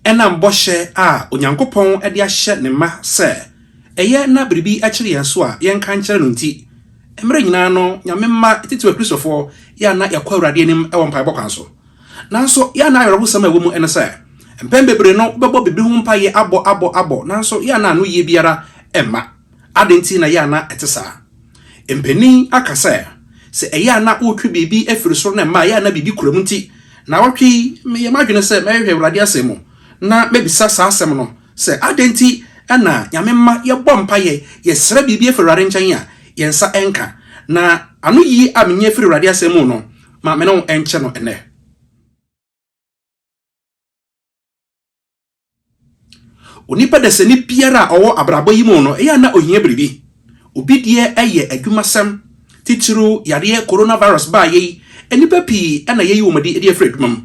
Ɛnam bɔhyɛ a Onyankopɔn de ahyɛ ne mma sɛ ɛyɛ na biribi kyere yɛn so a yɛnka nkyerɛ no nti, mmere nyinaa no Nyame mma titiriw Akristofoɔ yɛ a na yɛkɔ Awurade anim wɔ mpaebɔ kwan so. Nanso yɛ a na awerɛhosɛm a ɛwɔ mu ne sɛ, mpɛn bebree no wobɛbɔ biribi ho mpaeɛ abɔ abɔ abɔ nanso yɛ a na anoyie biara mma. Adɛn nti na ɛyɛ a na ɛte saa? Mpanin aka sɛ, Sɛ ɛyɛ a na wotwe biribi firi soro na ɛma ɛyɛ a na biribi kura mu nti, nnawɔtwe yi meyɛ m'adwene sɛ mɛhwehwɛ Awurade Asɛm mu na mabisa saa asɛm no sɛ, Adɛn nti na Nyame mma yɛbɔ mpaeɛ, yɛsrɛ biribi firi Awurade nkyɛn a, yɛn nsa nka? Na anoyie a menya firi Awurade Asɛm mu no, ma me ne wo nkyɛ no ɛnnɛ. Onipa dasani biara a ɔwɔ abrabɔ yi mu no, ɛyɛ a na ohia biribi. Obi deɛ yɛ adwumasɛm, titiriw yareɛ coronavirus baeɛ yi, nnipa pii na yɛayi wɔn adi de afiri adwuma mu.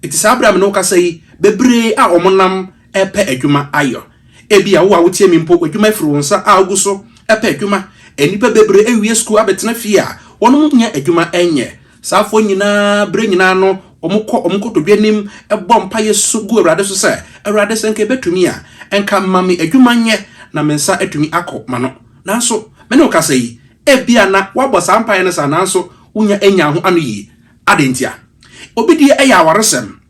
Enti saa bere a me ne wo kasa yi, bebree a wɔnam repɛ adwuma ayɔ. Ebia wo a wotie me mpo, w'adwuma afiri wo nsa a wogu so pɛ adwuma. Nnipa bebree awie sukuu abɛtena fie a wɔnnya adwuma nyɛ. Saafo nyinaa bere nyinaa no, wɔkɔ wɔn nkotodwe anim bɔ mpaeɛ su gu Awurade so sɛ, Awurade, sɛ anka ɛbɛtumi a, anka ma me adwuma nyɛ na me nsa atumi akɔ m'ano. Nanso, me ne wo kasa yi, ebia na woabɔ saa mpaeɛ no saa nanso wonnya nnyaa ho ano yie. Adɛn ntia? Obi deɛ ɛyɛ awaresɛm.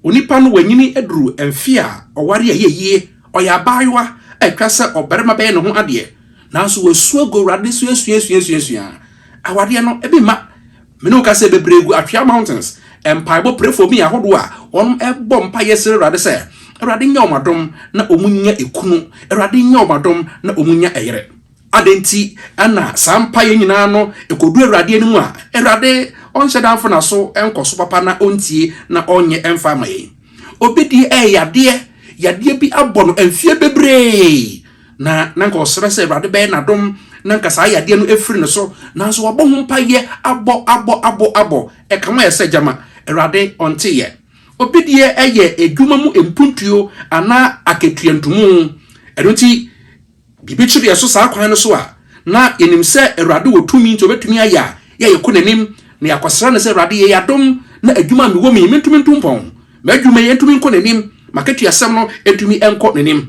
Onipa no wanyini aduru mfe a ɔware a ɛyɛ yie, ɔyɛ abaayewa a ɛtwa sɛ ɔbarima bɛyɛ ne ho adeɛ, nanso wasu agu Awurade so asuasuasuasuasua. Awadeɛ no, ebi mma. Me ne wo ka sɛ bebree gu Atwea Mountains mpaebɔ prefoɔ bi ahodoɔ a wɔbɔ mpaeɛ srɛ Awurade sɛ, Awurade nyɛ wɔn adom na wɔnnya ekunu, Awurade nyɛ wɔn adom na wɔnnya ɛyere. Adɛn nti na saa mpaeɛ nyinaa no ɛkɔdu Awurade anim a, Awurade ɔnhyɛ da mfa n'aso nkɔ so papa na ɔntie na ɔnyɛ mfa mma yɛn? Obi deɛ ɛyɛ yadeɛ, yadeɛ bi abɔ no mfeɛ bebree, na na nka ɔsrɛ sɛ Awurade bɛyɛ n'adom na nka saa yadeɛ no afiri ne so, nanso wabɔ ho mpaeɛ, abɔ, abɔ, abɔ, abɔ, ɛka ho ayɛ sɛ gyama, Awurade ɔnteeɛ. Obi deɛ ɛyɛ adwuma mu mpuntuo anaa akatua ntumu, ɛno nti, Biribi kyere yɛn so saa kwan no so a, na yɛnim sɛ Awurade wɔ tumi nti ɔbɛtumi ayɛ a yɛ yɛkɔ n'anim na yɛakɔsra no sɛ, Awurade, yɛ yɛadom na adwuma a mewɔ mu yi mentumi nto mpɔn, m'adwuma yi ntumi nkɔ n'anim, m'akatuasɛm no ntumi nkɔ n'anim.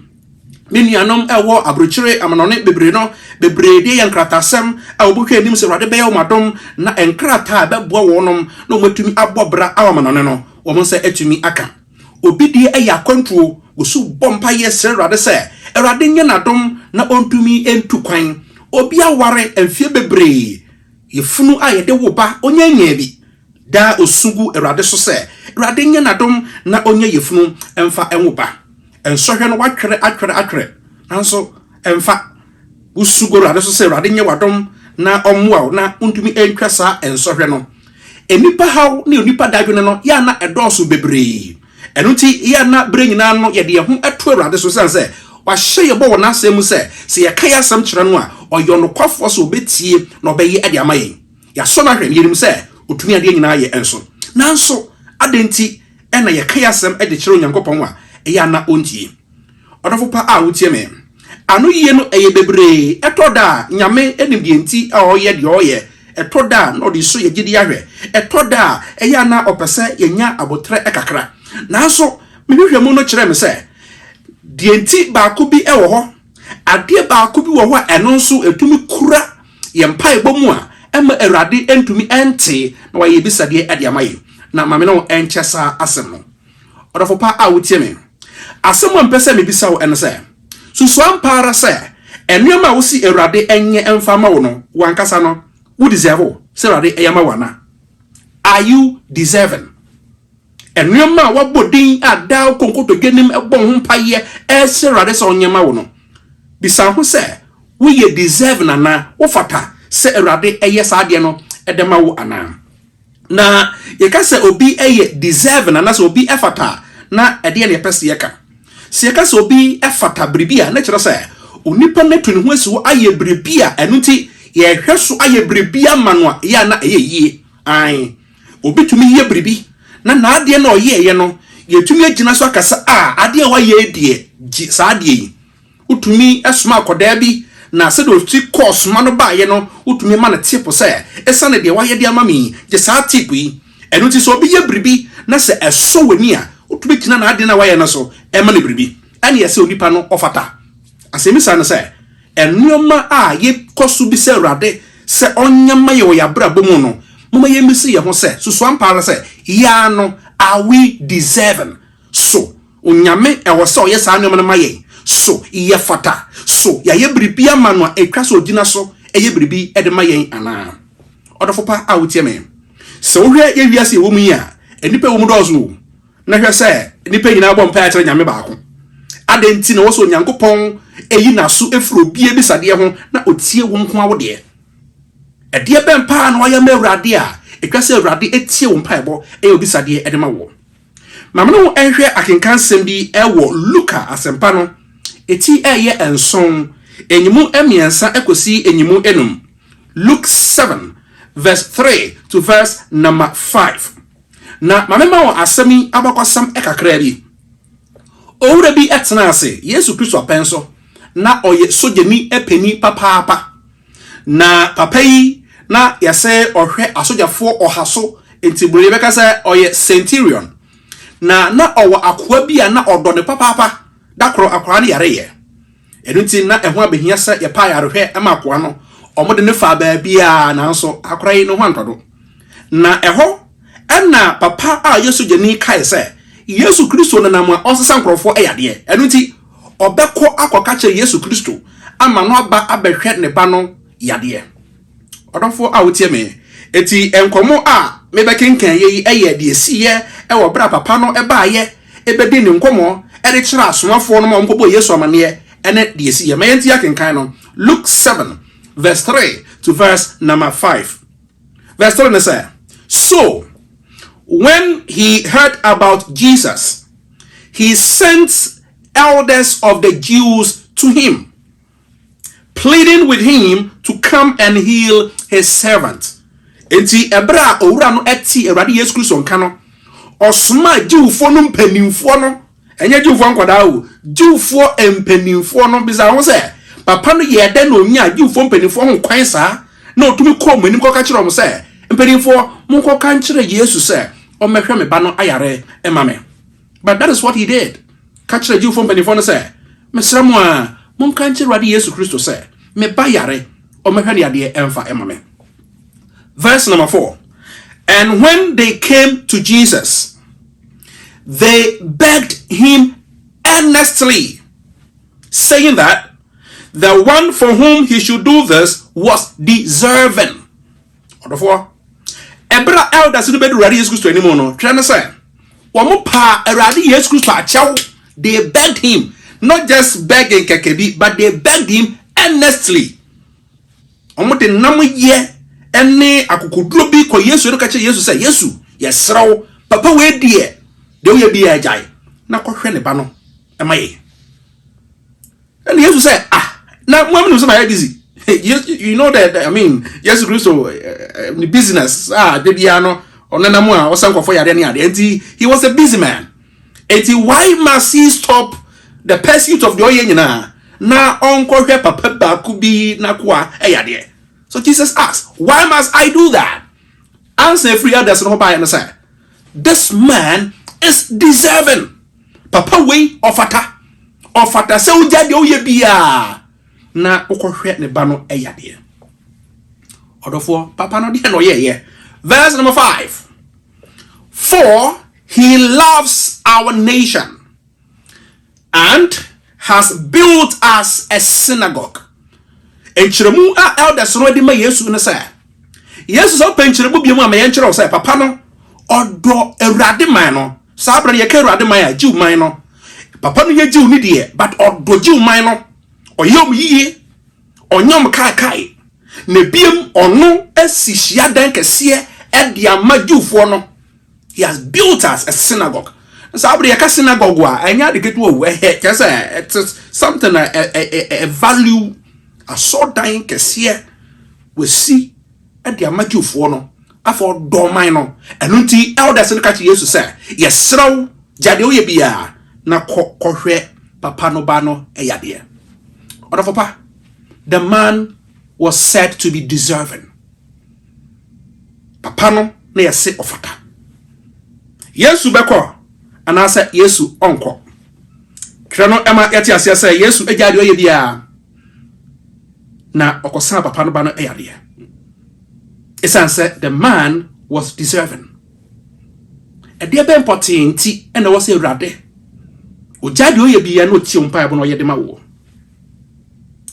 Me nuanom a wɔwɔ aburokyire amanɔne bebree no bebree deɛ yɛ nkrataasɛm a wɔbɛhwɛ anim sɛ Awurade bɛyɛ wɔn adom na nkrataa a ɛbɛboa wɔnom na wɔatumi abɔ bra aɔ amanɔne no wɔn nsa atumi aka. Obi deɛ ɛyɛ akwantuo, osu bɔ mpaeɛ srɛ Awurade sɛ Awurade nyɛ n'adom na ɔntumi ntu kwan. Obi aware mfeɛ bebree, yafunu a yɛde wo ba, ɔnnya nyaa bi. Daa ɔsu gu Awurade so sɛ Awurade nyɛ n'adom na ɔnya yafunu mfa nwo ba. Nsɔhwɛ no watwere atwere atwere nanso ɛmfa. Wusu gu Awurade so sɛ Awurade nyɛ w'adom na ɔmmoa wo na wuntumi antwa saa nsɔhwɛ no? Nnipa haw ne onipa dadwene no yɛ a na ɛdɔɔso bebree. Ɛno nti, yɛ a na bere nyinaa no yɛde yɛn ho to Awurade so esiane sɛ wahyɛ yɛn bɔ wɔ n'Asɛm mu sɛ, sɛ yɛka yɛn asɛm kyerɛ no a, ɔyɛ ɔnokwafoɔ sɛ ɔbɛtie na ɔbɛyɛ de ama yɛn. Yɛasɔ no ahwɛ, na yɛnim sɛ ɔtumi adeɛ nyinaa yɛ nso. Nanso, adɛn nti na yɛka yɛn asɛm de kyerɛ Onyankopɔn a, ɛyɛ a na ɔntie? Ɔdɔfo pa a wutie me. Anoyie no yɛ bebree. Ɛtɔ da a, Nyame nim deɛ nti a ɔyɛ deɛ ɔyɛ. Ɛtɔ da a, na ɔde su yɛn gyidie ahwɛ. Ɛtɔ da a, ɛyɛ a na ɔpɛ sɛ yɛnya aboterɛ kakra. Nanso, me nhwehwɛmu no kyerɛɛ me sɛ, deɛ nti baako bi wɔ hɔ. Adeɛ baako bi wɔ hɔ a ɛno nso ɛtumi kura yɛn mpaebɔ mu a ɛmma Awurade ntumi nte na wayɛ yɛn bisadeɛ de ama yɛn. Na ma me ne wo nkyɛ saa asɛm no. Ɔdɔfo pa a wutie me, asɛm a mepɛ sɛ mibisa wo ne sɛ, Susuw ampa ara sɛ nneɛma a wose Awurade nyɛ mfa mma wo no, wo ankasa no, wo deserve sɛ Awurade yɛ ma wo anaa? Are you deserving? Nneɛma a woabɔ din a daa wokɔ nkotodwe anim bɔ ho mpaeɛ ɛsrɛ Awurade sɛ ɔnyɛ ma wo no, bisa ho sɛ woyɛ deserving anaa? Wofata sɛ Awurade yɛ saa adeɛ no de ma wo anaa? Na yɛka sɛ obi yɛ deserving anaasɛ obi fata a, na ɛdeɛ na yɛpɛ sɛ yɛka. Sɛ yɛka sɛ obi fata biribi a, na kyerɛ sɛ onipa no atu ne ho asi hɔ ayɛ biribi a ɛno nti yɛhwɛ so ayɛ biribi ama no a ɛyɛ a na ɛyɛ yie. Ae, obi tumi yɛ biribi na n'adeɛ no a ɔyɛeɛ no, yɛtumi agyina so aka sɛ, ah, adeɛ a wayɛ yi deɛ, gye saa adeɛ yi. Wotumi soma akwadaa bi, na sɛdeɛ ɔsi kɔɔ soma no baeɛ no, wotumi ma no tip sɛ, Ɛsiane deɛ woayɛ de ama me yi, gye saa tip yi. Ɛno nti, sɛ obi yɛ biribi na sɛ ɛsɔ w'ani a, wotumi gyina n'adeɛ no a wayɛ no so ma no biribi. Ɛnneɛ ɛsɛ sɛ onipa no ɔfata. Asɛmmisa ne sɛ, Nneɛma a yɛkɔ so bisa Awurade sɛ ɔnyɛ mma yɛn wɔ yɛn abrabɔ mu no, momma yɛmmisa yɛn ho sɛ, Susu ampa ara sɛ yɛn ara no, are we deserving? So Onyame wɔ sɛ ɔyɛ saa nnoɔma no ma yɛn? So yɛfata? So yɛayɛ biribi ama no a ɛtwa sɛ ɔgyina so yɛ biribi de ma yɛn anaa? Ɔdɔfo pa a wotie me, sɛ wohwɛ yɛ wiase yɛwɔ mu yi a, nnipa ɛwɔ mu dɔɔso o, na hwɛ sɛ nnipa nyinaa bɔ mpaeɛ kyerɛ Nyame baako. Adɛn nti na ɛwɔ sɛ Onyankopɔn yi n'aso firi obi abisadeɛ ho na ɔtie wo nko ara wo deɛ? Ɛdeɛ bɛn paa na woayɛ ama Awurade a ɛtwa sɛ Awurade tie wo mpaebɔ yɛ wo bisadeɛ de ma woɔ? Ma me ne wo nhwɛ akenkansɛm bi wɔ Luka Asɛmpa no ti a ɛyɛ nson, nyimu mmiɛnsa kɔsi nyimu enum, Luke seven verse three to verse number five. Na ma memma wo asɛm yi abakɔsɛm kakraa bi. Owura bi tenaa ase Yesu Kristo apɛn so. na ɔyɛ sogyani panin papaapa. Na papa yi, na yɛse ɔhwɛ asogyafoɔ ɔha so, nti bro yɛbɛka sɛ ɔyɛ centurion. Na na ɔwɔ akoa bi a na ɔdɔ no papaapa. Da koro akoa no yareeɛ. Ɛno nti na ɛho abɛhia sɛ yɛpɛ ayarehwɛ ma akoa no. Wɔde no faa baabiara nanso akoa yi ne ho antɔ do. Na ɛhɔ na papa a ɔyɛ sogyani kae sɛ Yesu Kristo nenam a ɔnsesa nkurɔfoɔ yadeɛ. Ɛno nti Ɔbɛkɔ akɔka kyerɛ Yesu Kristo ama no aba abɛhwɛ ne ba no yadeɛ. Ɔdɔfoɔ a wotie me, enti nkɔmmɔ a mebɛkenkaneɛ yi yɛ deɛ ɛsiiɛ wɔ berɛ a papa no baeɛ bɛdii ne nkɔmmɔ de kyerɛɛ asomafoɔ no ma wɔkɔbɔɔ Yesu amanneɛ ne deɛ ɛsiiɛ. Ma yɛntie akenkan no, Luke seven verse three to verse number five. Verse three no sɛ, So when he heard about Jesus. He sent elders of the Jews to him, pleading with him to come and heal his servant. Enti ɛberɛ a owura no tee Awurade Yesu Kristo nka no, ɔsomaa Jewfoɔ no mpanimfoɔ no, ɛnyɛ Jewfoɔ nkwadaa o, Jewfoɔ mpanimfoɔ no bisaa ho sɛ, Papa no yɛɛ dɛn na ɔnyaa Jewfoɔ mpanimfoɔ ho kwan saa, na ɔtumi kɔɔ wɔn anim kɔka kyerɛɛ wɔn sɛ, Mpanimfoɔ, monkɔka nkyerɛ Yesu sɛ, ɔmmɛhwɛ me ba no ayare ma me. But that is what he did. Ka kyerɛ Jewfoɔ mpanimfoɔ no sɛ, Mesrɛ mo a, monka nkyerɛ Awurade Yesu Kristo sɛ, me ba yare, ɔmmɛhwɛ ne adeɛ ɛmfa ɛma me. Verse number 4 And when they came to Jesus, they begged him earnestly, saying that the one for whom he should do this was deserving. Ɔdɔfoɔ, ɛberɛ a elders no bɛduru Awurade Yesu Kristo anim no, twerɛ no sɛ, wɔn paa Awurade Yesu Kristo akyɛw, they begged him, not just begging kɛkɛ bi, but they begged him earnestly. Wɔn de nam yɛ ɛne akokoduro bi kɔ Yesu ɛno kakyɛ Yesu sɛ, Yesu, yɛsrɛ wo, papa wei deɛ, deɛ woyɛ bi yɛ agyae, na kɔhwɛ ne ba no. ɛma yɛ ɛna yesu sɛ ah na mo amu sɛ mayɛ busy you know that i mean yesu kristo eh, eh, eh, ne business a ah, de biara no ɔnenam a ɔsɛ nkɔfo yadeɛ ne adeɛ nti he was a busy man nti why must he stop the pursuit of the ɔyɛ nyinaa na ɔnkɔhwɛ papa baako bi n'akoa ɛyadeɛ so jesus asked why must i do that ansa efiri elders no hɔ baeɛ no sɛ this man is deserving. Papa wei ɔfata ɔfata sɛ wogya deɛ woyɛ biaa na wokɔhwɛ ne ba no yadeɛ ɔdɔfoɔ papa no deɛ na ɔyɛɛyɛ verse number 5 for he loves our nation and has built us a synagogue Nkyerɛmu a elders no de ma Yesu ne sɛ, Yesu sɛ wopɛ nkyerɛmu bio mu a ma yɛnkyerɛ wo sɛ papa no ɔdɔ Awurade man no. Saa berɛ no yɛka Awurade man a, Jew man no. Papa no yɛ Jew ni deɛ, but ɔdɔ Jew man no. Ɔyɛ wɔn yie, ɔnyɛ wɔn kaekae. Na biam ɔno asi hyiadan kɛseɛ de ama Jewfoɔ no. He has built us a synagogue. Nsa abere yɛka synagogue a ɛnyɛ ade ketewa o ɛhɛ kyerɛ sɛ ɛte something a ɛ value asɔɔdan kɛseɛ wɔsi de ama Jewfoɔ no afɔ dɔɔman no ɛno nti elders no ka kyerɛ Yesu sɛ yɛsrɛ wo gya deɛ woyɛ biara na kɔ kɔhwɛ papa no ba no ɛyadeɛ ɔdɔfo pa the man was said to be deserving papa no na yɛse ɔfata. Yesu bɛkɔ anaasɛ Yesu ɔnkɔ? Twerɛ no ma yɛte aseɛ sɛ Yesu agyaa deɛ ɔyɛ biara na ɔkɔsaa papa no ba no yadeɛ. Ɛsiane sɛ the man was deserving. Ɛdeɛ bɛn pɔtee nti ɛna ɛwɔ sɛ Awurade ɔgyaa deɛ ɔyɛ biara na ɔtie wo mpaebɔ na ɔyɛ de ma wo?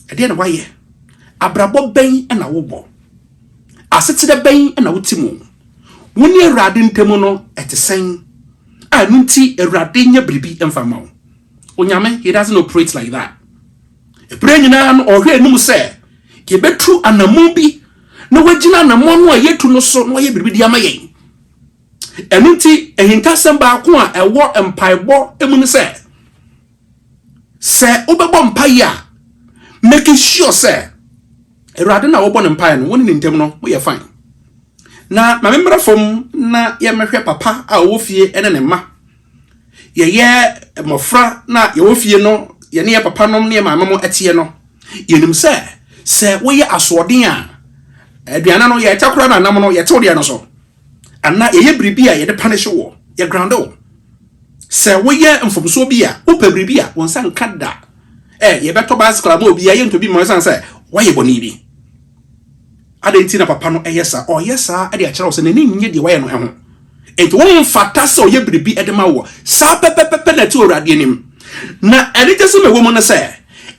Ɛdeɛ na wayɛ? Abrabɔ bɛn na wobɔ? Asetra bɛn na wote mu? Wo ne Awurade ntam no, ɛte sɛn? A ɛno nti, Awurade nyɛ biribi mfa mma wo. Onyame, he doesn't operate like that. Ɛberɛ nyinaa no, ɔhwɛ anim sɛ yɛbɛtu anammɔn bi na wagyina anammɔn no a yɛtu no so na wayɛ biribi de ama yɛn. Ɛno nti, ahintasɛm baako a ɛwɔ mpaebɔ mu ne sɛ, Sɛ wobɛbɔ mpaeɛ a, make sure sɛ Awurade na wobɔ no mpaeɛ no, wo ne ne ntam no, moyɛ fine. Na ma memmra fam na yɛmmɛhwɛ papa a ɔwɔ fie ne ne mma. Yɛyɛ mmɔfra na yɛwɔ fie no, yɛne yɛ papa nom ne yɛ maame mo teɛ no, yɛnim sɛ sɛ woyɛ asoɔden a, aduane no yɛtakora no anam no, yɛtew deɛ no so. Anaa yɛyɛ biribi a yɛde panish woɔ, yɛ ground wo. Sɛ woyɛ mfomsoɔ bi a, wopɛ biribi a, wo nsa nka da. Eh, yɛbɛtɔ bicycle ama obi a, yɛntɔ bi mma ɛsiane sɛ woayɛ bɔne bi. Adɛn nti na papa no yɛ saa? Ɔyɛ saa de akyerɛ wo sɛ n'ani nnye deɛ woayɛ no ho. Enti womfata sɛ ɔyɛ biribi de ma woɔ. Saa pɛpɛpɛpɛ na ɛte wɔ Awurade anim. Na anigyesɛm a ɛwɔ mu ne sɛ,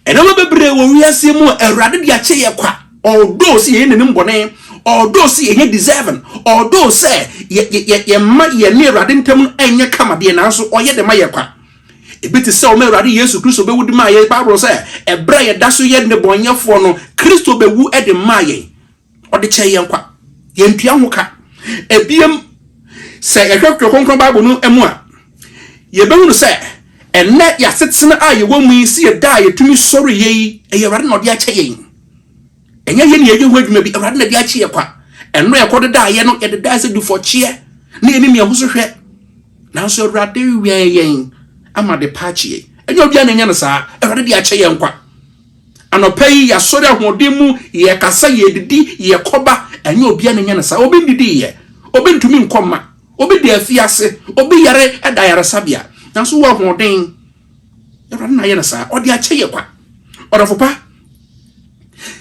nneɛma bebree wɔ wiase mu a Awurade de akyɛ yɛn kwa. Although sɛ yɛyɛ n'anim bɔne, although sɛ yɛnyɛ deserving, although sɛ yɛmma yɛne Awurade ntam no ɛnyɛ kama deɛ, nanso ɔyɛ de ma yɛ kwa. Ebi te sɛ ɔma Awurade Yesu Kristo bɛwu de maa yɛn. Bible sɛ ɛberɛ a yɛda so yɛ nnebɔnyɛfoɔ no, Kristo bɛwu de maa yɛn. Ɔde kyɛɛ yɛn kwa. Yɛntua ho ka. Ebiem, sɛ yɛhwɛ Twerɛ Kronkron Bible no mu a, yɛbɛhunu sɛ ɛnnɛ yɛasetena a yɛwɔ mu yi, sɛ yɛda a yɛtumi sɔreeɛ yi, ɛyɛ Awurade na ɔde akyɛ yɛn. ɛnyɛ yɛ ne yɛyɛ ho adwuma bi awurade na de akye yɛ kwa ɛno yɛkɔ dedaa yɛ no yɛdedaa sɛ dufɔkyeɛ ne yɛne nea ho so hwɛ nanso awurade wɛn yɛn ama de pa akye yɛn ɛnyɛ obia na ɛnyɛ no saa awurade de akyɛ yɛn kwa anɔpa yi yɛasɔre ahoɔden mu yɛkasa yɛdidi yɛkɔba ɛnyɛ obia na ɛnyɛ no saa obi ndidi yɛ obi ntumi nkɔma obi da afiase obi yare ɛda yaresabea nanso wɔ ahoɔden Awurade na ayɛ no saa. Ɔde akyɛ yɛ kwa. Ɔdɔfo pa,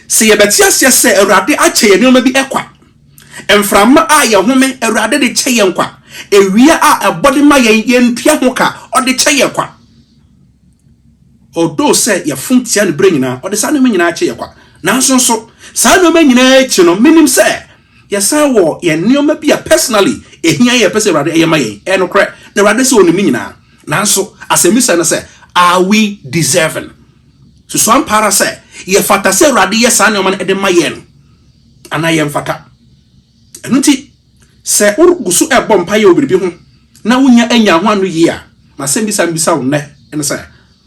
sɛ yɛbɛte aseɛ sɛ Awurade akyɛ yɛ nneɛma bi kwa, mframa a yɛhome, Awurade de kyɛ yɛn kwa. Ewia a ɛbɔ de ma yɛn, yɛntua ho ka, ɔde kyɛ yɛ kwa. Ɔdoo sɛ yɛfom tia no berɛ nyinaa, ɔde saa nneɛma nyinaa kyɛ yɛ kwa. Nanso nso, saa nneɛma nyinaa akyi no, menim sɛ Yɛsan wɔ yɛn nneɛma bi a personally ehia yɛn pɛ sɛ Awurade ɛyɛ ma yɛn. Ɛyɛ nokorɛ, na Awurade sɛ Onim ne nyinaa. Nanso asɛmmisa ne sɛ, Are we deserving? Susu ampa ara sɛ yɛfata sɛ Awurade yɛ saa nneɛma no ɛde ma yɛn anaa yɛmfata. Ɛno nti, sɛ wogu so ɛbɔ mpaeɛ wɔ biribi ho na wonya anya ho ano yie a, masɛmmisa mbisa wo nnɛ ne sɛ,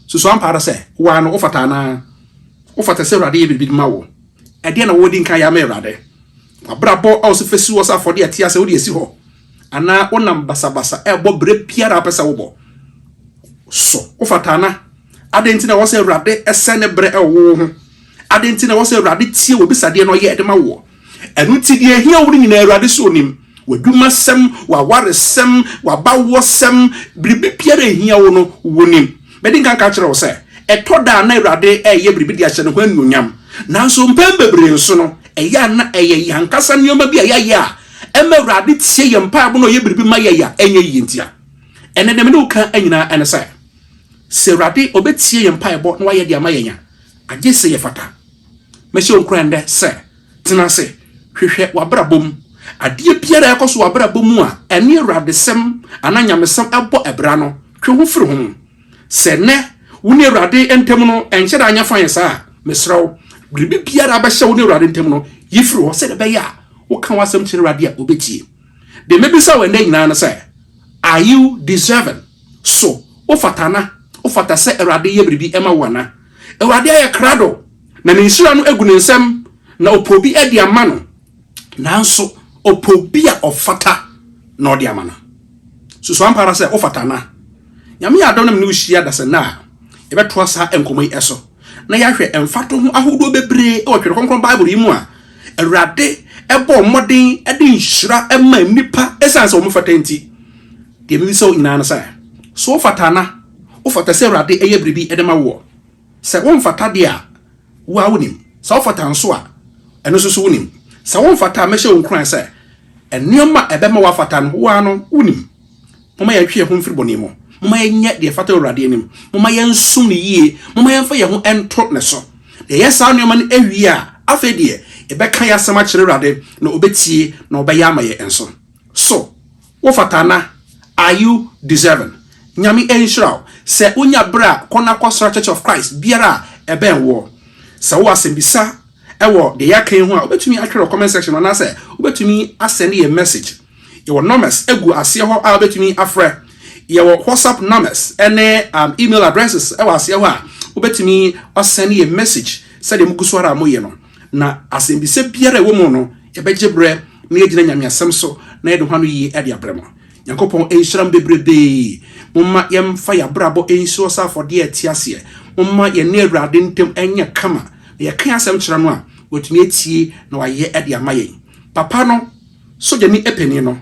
Susu ampa ara sɛ wo ara no wofata anaa? Wofata sɛ Awurade yɛ biribi de ma wo? Ɛdeɛn na wode di nkan yɛ ama Awurade? W'abrabɔ a wosɛ fɛsi hɔ sɛ afɔdeɛ ɛte asɛ wode asi hɔ? Anaa wonam basabasa ɛbɔ berɛ biara apɛ sɛ wobɔ? So wofata ana? Adɛn nti na ɛwɔ sɛ Awurade ɛsɛ ne berɛ ɛwɔ wo ho? Adɛn nti na ɛwɔ sɛ Awurade tie wo bisadeɛ na ɔyɛ ɛde ma woɔ? Ɛno nti deɛ ɛhia wo no nyinaa Awurade so nim. W'adwumasɛm, w'awaresɛm, w'abawɔsɛm, biribi biara a ɛhia wo no, wonim. Mɛdi nka nka kyerɛ wo sɛ, ɛtɔ da a na Awurade reyɛ biribi de ahyɛ ne ho anuonyam. Nanso mpɛn bebree nso no, ɛyɛ a na ɛyɛ yɛn ankasa nneɛma bi a yɛayɛ a ɛma Awurade tie yɛn mpaebɔ na ɔyɛ biribi ma yɛn a ɛnyɛ yiye ntia. Ɛnnɛ deɛ me ne wo ka nyinaa ne sɛ, sɛ Awurade ɔbɛtie yɛn mpaebɔ na wayɛ de ama yɛn a, agye sɛ yɛfata. Mɛhyɛ wo nkuran nnɛ sɛ, Tena ase hwehwɛ w'abrabɔ mu adeɛ biara a ɛkɔ so wɔ w'abrabɔ mu a ɛne Awuradesɛm anaa nyamesɛm bɔ abira no, twe ho firi ho. Sɛ nnɛ wo ne Awurade ntam no nhyɛ da nyɛ fann saa a, mesrɛ wo, biribi biara a ɛbɛhyɛ wo ne Awurade ntam no, yi firi hɔ sɛdeɛ ɛbɛyɛ a woka w'asɛm kyerɛ Awurade a, ɔbɛtie. Deɛ mɛbisa wo ɛnnɛ nyinaa ne sɛ, Are you deserving? So wofata anaa? Wofata sɛ Awurade yɛ biribi ma wo anaa? Awurade ayɛ krado. Na ne nhyira no agu ne nsam, na ɔpɛ obi de ama no, nanso ɔpɛ obi a ɔfata na ɔde ama no. Susu ampa ara sɛ wofata anaa? Nyame yɛ adom na me ne wo hyia dasannɛ a yɛbɛtoa saa nkɔmmɔ yi so na yɛahwɛ mfatoho ahodoɔ bebree wɔ Twere Kronkron Bible yi mu a Awurade bɔɔ mmɔden de nhyira ma nnipa ɛsiane sɛ wɔfata nti. Deɛ mebisa wo nyinaa no sɛ, so wofata anaa? Wofata sɛ Awurade yɛ biribi de ma woɔ? Sɛ womfata deɛ a, wo ara wonim. Sɛ wofata nso a, ɛno nso so wonim. Sɛ womfata a, mɛhyɛ wo nkuran sɛ, nneɛma a ɛbɛma woafata no, wo ara no wonim. Momma yɛntwe yɛn ho mfiri bɔne mu. Momma yɛnyɛ deɛ ɛfata wɔ Awurade anim. Momma yɛnsom no yie. Momma yɛmfa yɛn ho nto ne so. Na yɛyɛ saa nneɛma no wie a, afei deɛ, yɛbɛka yɛn asɛm akyerɛ Awurade, na ɔbɛtie na ɔbɛyɛ ama yɛn nso. So. Wo fata ana? Are you deserving? Nyame nhyira wo sɛ wonya berɛ a kɔ na kɔ sra Church of Christ biara a ɛbɛn woɔ. Sɛ wowɔ asɛmbisa wɔ deɛ yɛaka yi ho a, wobɛtumi atwerɛ wɔ comment section mu anaasɛ wobɛtumi asɛnde yɛn message. Yɛwɔ numbers gu aseɛ hɔ a wobɛtumi afrɛ. Yɛwɔ WhatsApp numbers ne um, email addresses wɔ aseɛ hɔ a wobɛtumi asɛnde yɛn message sɛdeɛ mogu so ara a moyɛ no. Na asɛmbisa biara a ɛwɔ mu no, yɛbɛgye berɛ na yɛagyina Nyame asɛm so na yɛde ho ano yie ɛde abrɛ mo. Nyankopɔn nhyira mo bebrebee. Momma yɛmfa yɛn abrabɔ nsuo sɛ afɔdeɛ a ɛte aseɛ. Momma yɛne Awurade ntam nyɛ kama, na yɛka asɛm kyerɛ no a, watumi atie na wayɛ de ama yɛn. Papa no, sogyani panin no,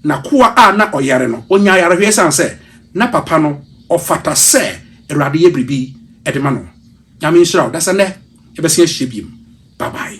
n'akoa a na ɔyare no, ɔnyaa ayarehweɛ ɛsiane sɛ na papa no ɔfata sɛ Awurade yɛ biribi de ma no. Nyame nhyira wo. Dasa nɛ yɛbɛsen ahyia biem. Bye bye.